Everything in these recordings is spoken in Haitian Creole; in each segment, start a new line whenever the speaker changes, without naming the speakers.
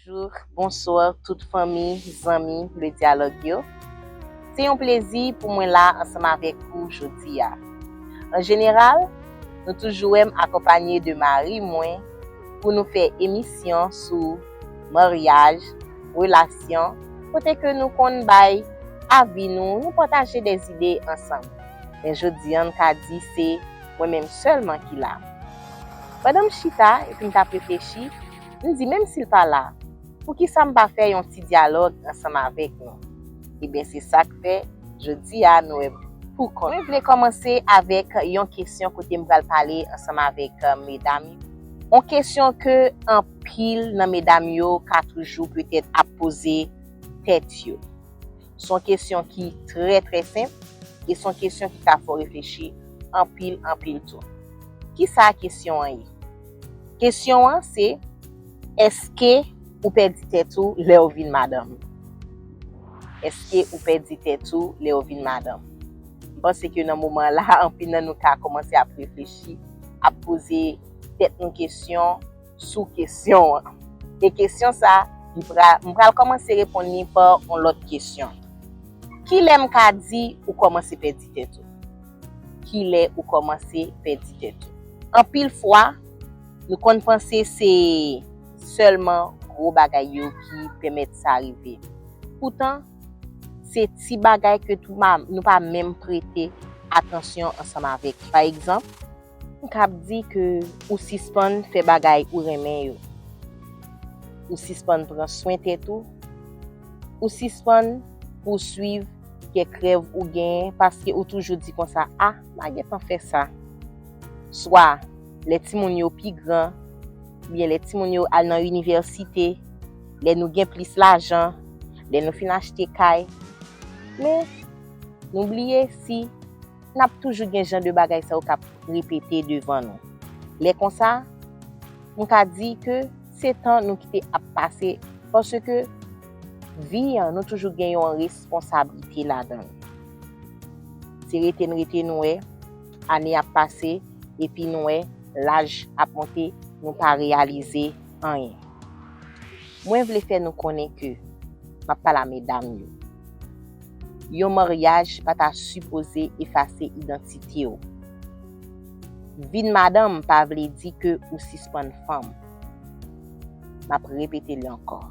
Bonjour, bonsoir tout fanmi, zanmi Le Dialogue yo. Se yon plezi pou mwen la ansanm avèk ou jodi a. An jeneral, nou toujou wè m akonpanye de mari mwen pou nou fè emisyon sou maryaj, relasyon, kote ke nou konn bay avi nou, nou pataje de zide ansanm. Men jodi an m ka di se mwen menm sèlman ki la. Pandan m chita epi m t ap reflechi, M di menm si l pa la, poukisa m pa fè yon ti dyalòg ansanm avèk nou? Eben se sa k fè jodi a nou wè m pou kont mwen. Mwen vle kòmanse avèk yon kesyon kote m pral pale ansanm avèk medam yo. Yon kesyon ke anpil nan medam yo ka toujou petèt ap poze tèt yo. Son kesyon ki trè trè senp e son kesyon ki ka fè w reflechi anpil anpil tou. Kisa kesyon an ye? Kesyon an se, Eske ou pèdi tèt ou lè w vin madanm? Eske ou pèdi tèt ou lè w vin madanm? M panse ke nan moman la anpil nan nou ka kòmanse ap reflechi, ap poze tèt nou kesyon. sou kesyon an. E kesyon sa, m pral kòmanse reponn li pa yon lòt kesyon. Kilè m ka di ou kòmanse pèdi tèt ou? Kilè ou kòmanse pèdi tèt ou? Anpil fwa, nou konn panse se sèlman gwo bagay yo ki pèmèt sa rive. Poutan, se ti bagay ke nou pa menm prete atansyon ansanm avèk. Pa egzanp, Ou kab di ke ou sispann fè bagay ou renmen yo. Ou sispann pran swen tèt ou. Ou sispann pouswiv kèk rèv ou genyen paske ou toujou di konsa, a, m a gentan fè sa. Swa, lè timoun yo pi gran, oubyen lè timoun yo al nan inivèsite, lè nou gen plis lajan, lè nou fin achte kay. Men, nou bliye si. n ap toujou gen jan de bagay sa yo k ap repete devan nou. Lè konsa, m ka di ke se tan nou kite ap pase paske vi an nou toujou gen yon responsablite ladan l. Se rete n rete nou wè ane ap pase epi nou wè laj ap monte nou pa reyalize anyen. Mwen vle fè nou konnen ke, m ap pale a medam yo, yon maryaj pa ta sipoze efase idantite w. Vin madanm pa vle di ke ou sispann fanm. M ap repete li ankò.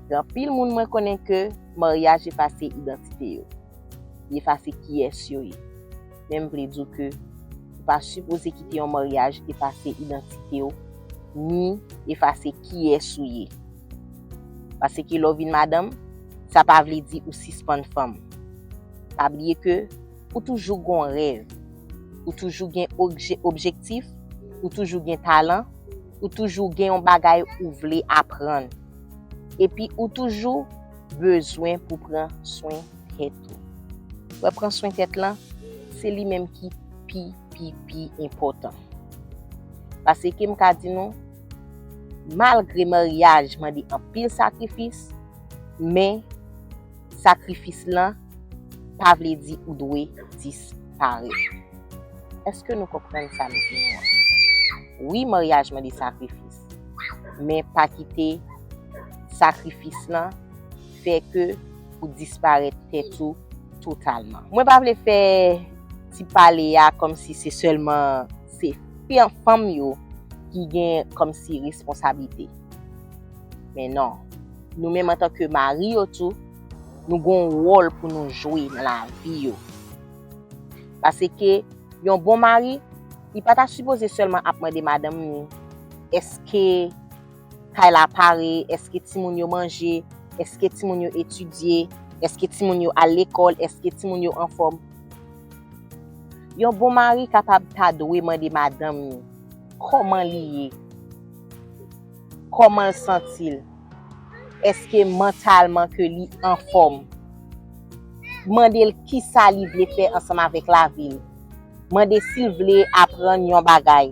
Gen anpil moun mwen konnen ke maryaj efase idantite yo. Li efase kiyès yo ye. men m vle di w ke ou pa sipoze kite yon maryaj efase idantite w ni efase kiyès ou ye. Paseke lè w vin madanm, sa pa vle di ou sispann fanm. Pa bliye ke ou toujou gon rèv, ou toujou gen objektif, ou toujou gen talan, ou toujou gen yon bagay ou vle aprann. Epi ou toujou bezwen pou pran swen tèt ou. Wè pran swen tèt lan, se li menm ki pi pi pi enpòtan. Paseke m ka di nou, malgre maryaj mande anpil sakrifis, men sakrifis lan pa vle di ou dwe disparèt. Eske nou konprann sa m di nou an? Wi maryaj mande sakrifis, men pa kite sakrifis lan fè ke ou disparèt tèt ou totalman. Mwen pa vle fè ti pale a kòm si se sèlman se fanm yo ki gen kòm si responsabilite. Men non, nou menm antan ke mari yo tou, nou gon wòl pou nou jwe nan la vi yo. Pase ke yon bon mari, li pa ta sipoze sèlman ap mande madanm ni, eske. kay la pare, eske timoun yo manje, eske timoun yo etidye, eske timoun yo al lekòl, eske timoun yo anfòm. Yon bon mari kapab ta dwe mande madanm ni kòman li ye, kòman l santi l, eske mantalman ke li anfòm, mande l kisa li vle fè ansanm avèk lavi l. mande sil vle aprann yon bagay.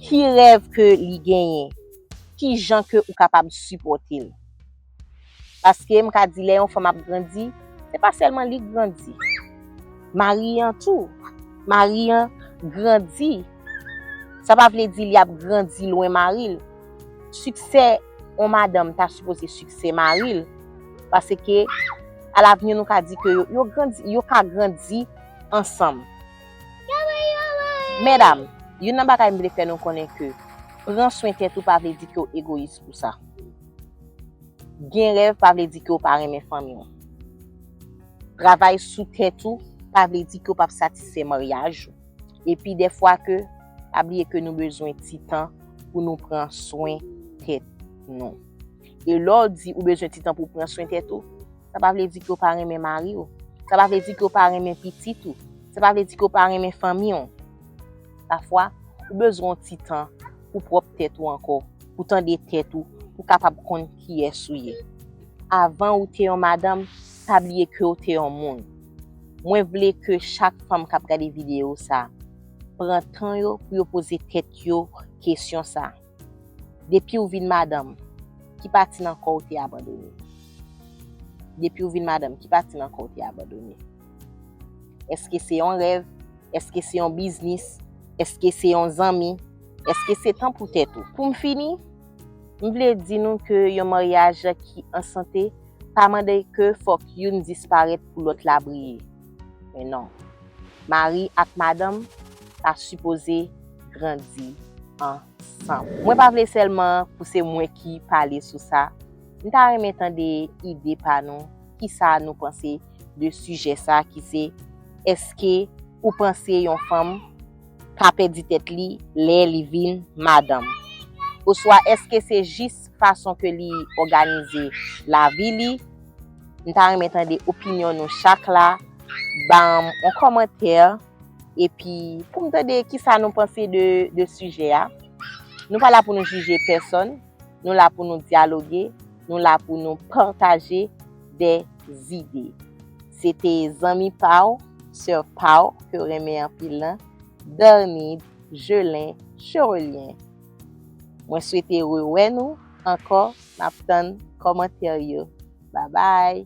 Ki rèv ke li genyen? Ki jan ke ou kapab sipòte l? Paske m ka di lè yon fanm ap grandi, se pa sèlman li k grandi. Mari an tou. Mari an grandi. Sa pa vle di li ap grandi lwen mari l. Siksè yon madanm ta sipoze siksè mari l. Paske a lavni nou ka di ke yo ka grandi ansanm. Medam, youn nan bagay m vle fè nou konnen ke pran swen tèt ou pa vle di ke w egoyis pou sa. Gen rèv pa vle di ke w pa renmen fanmi w. Travay sou tèt ou pa vle di ke w p ap satisfè maryaj ou. Epi defwa ke, pa bliye ke nou bezwen ti tan pou nou pran swen tèt nou. E lè w di ou bezwen ti tan pou pran swen tèt ou, sa pa vle di ke w pa renmen mari w, sa pa vle di ke w pa renmen pitit ou, sa pa vle di ke w pa renmen fanmi w. Pafwa, ou bezwen yon ti tan pou pwòp tèt ou ankò, pou tande tèt ou, pou kapab konn kiyès ou ye. Avan ou te yon madanm, pa bliye kew te yon moun. Mwen vle ke chak fanm kap gade video sa pran tan yo pou yo poze tèt yo kesyon sa. Depiw vin madanm, ki pati nan kòw te abandone? Depiw vin madanm, ki pati nan kòw te abandone? Eske se yon rèv? Eske se yon biznis? Eske se yon zanmi? Eske se tan pou tèt ou? Poum fini. M vle di nou ke yon maryaj ki an sante pa mande ke fòk youn disparèt pou lòt la briye. Men non. Mari ak madanm ta sipoze grandi ansanm. Mwen pa vle sèlman pou se mwen ki pale sou sa. M ta renmen tande ide pa nou, kisa nou panse de sijè sa ki se, Eske ou panse yon fanm ka pèdi tèt li lè li vin madanm? Oswa èske se jis fason ke li òganize lavi li? M ta renmen tande opinyon nou chak la, banm on kòmantè epi poum tande kisa nou panse de sijè a. Nou pa la pou nou jije pèsòn. Nou la pou nou dyaloge, nou la pou nou pataje de zide. Se te zanmi pa w, sè pa w ke w renmen anpil lan, Bernide Gelin Cherelien. Mwen swete rewè nou ankò, m ap tann kòmantè yo. Babay!